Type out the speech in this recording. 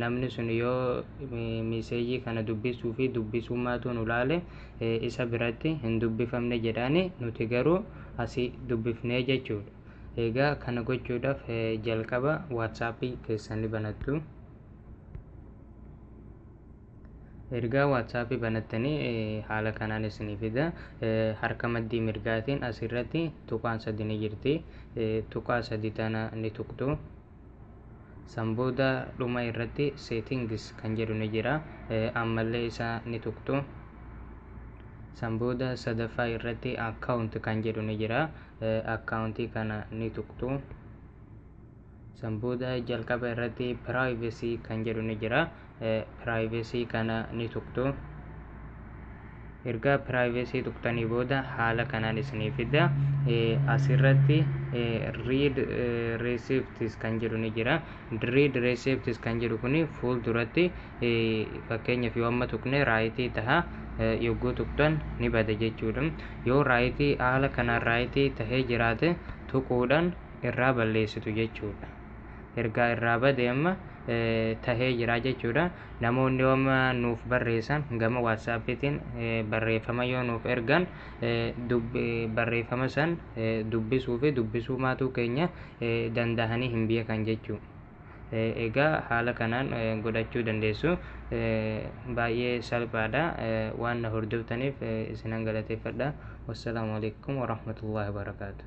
Namni sun yoo miiseejii kana dubbisuu fi dubbisuu maatuu nu laale isa biratti hin dubbifamne jedhaani nuti garuu asi dubbifnee jechuudha. Eegaa kana gochuudhaaf jalqaba WhatsApp keessan ni banattu. Ergaa WhatsApp banattanii haala kanaan isinii fida. Harka maddii mirgaatiin asirratti tuqaan sadi ni jirti. Tuqaa sadi tana ni tuqxu. San booda dhuma irratti settings kan jedhu ni jira. Ammallee isa ni tuqxu. San booda sadaffaa irratti account kan jedhu ni jira. Account kana ni tuqxu. San booda jalqaba irratti privacy kan jedhu ni jira. privacy kana ni tuqtu erga privacy tuqtanii booda haala kanaan isinii fida asirratti read receipts kan jedhu ni jira read receipts kan jedhu kun fuul duratti fakkeenyaaf yoo amma tuqne raayitii taha yogguu tuqtan ni bada jechuudha yoo raayitii haala kanaan raayitii tahee jiraate tuquudhaan irraa balleessitu jechuudha ergaa irraa bade amma tahee jira jechuudha. Namoonni yooma nuuf barreessan gama waatsaappiitiin barreeffama yoo nuuf ergan barreeffama san dubbisuu fi dubbisuu maatuu keenya dandahanii hin beekan jechuu. Egaa haala kanaan godhachuu dandeessu. Baay'ee salphaadha. Waan na hordoftaniif isinan galateeffadha. Wassalaamu alaikum warahmatullahi wabarakatuh.